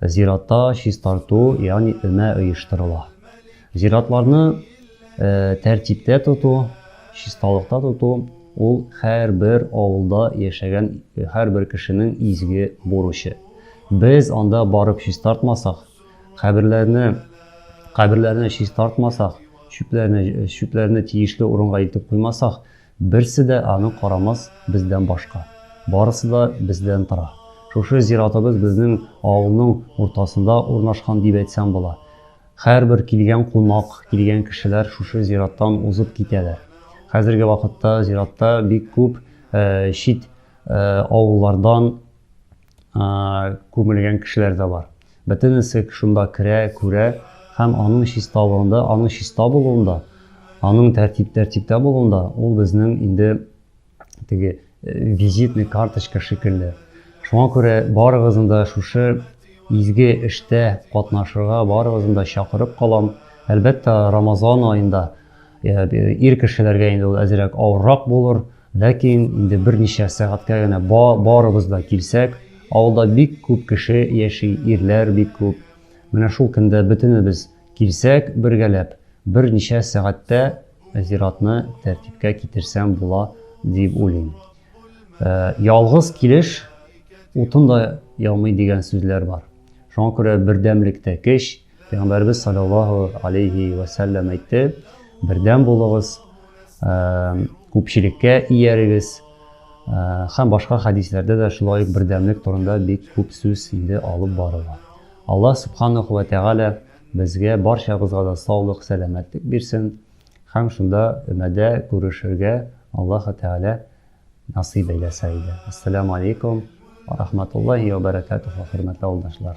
Зиратта чистарту, ягъни өмә оештырыла. Зиратларны тәртиптә тоту, чисталыкта тоту ул һәрбер авылда яшәгән һәрбер кешенең изге бурычы. Без анда барып чистартмасак, каберләрне каберләрне чистартмасак, чүпләрне чүпләрне тиешле урынга илтеп куймасак, Берсе дә аны карамас бездән башка. Барысы да бездән тора. Шушы зиратыбыз безнең авылның уртасында урнашкан дип әйтсәм була. Һәрбер килгән кунак, килгән кешеләр шушы зираттан узып китәләр. Хәзерге вакытта зиратта бик күп чит авыллардан күмелгән кешеләр дә бар. Бөтенесе шунда керә, күрә һәм аның чисталыгында, аның чиста булуында, аның тәртип тәртиптә булуында ул безнең инде теге э, визитный карточка шикелле. Шуңа күрә барыгызны да шушы изге эштә катнашырга барыгызны да чакырып калам. Әлбәттә, Рамазан аенда э, ир кешеләргә инде ул әзрәк авыррак булыр. Ләкин инде берничә сәгатькә генә барыбыз да килсәк, авылда бик күп кеше яши, ирләр бик күп. Менә шул көндә бөтенебез килсәк, бергәләп, берничә сәгатьтә зиратны тәртипкә китерсәм була, дип уйлыйм. Ялгыз килеш утын да яумый дигән сүзләр бар. Шуңа күрә бердәмлектә көч. Пәйгамбәребез саллаллаһу алейһи вә сәлләм әйтте, бердәм булыгыз, күпчелеккә иярегез. Һәм башка хәдисләрдә дә шулай ук бердәмлек турында бик күп сүз инде алып барыла. Аллаһ субханаху ва тәгалә безгә барчабызга да саулык, сәламәтлек бирсен һәм шунда өмәдә күрешергә Аллаһ тәгалә насыйп әйләсә иде. Ассаламу алейкум ва рахматуллаһи ва баракатуху, хөрмәтле авылдашлар.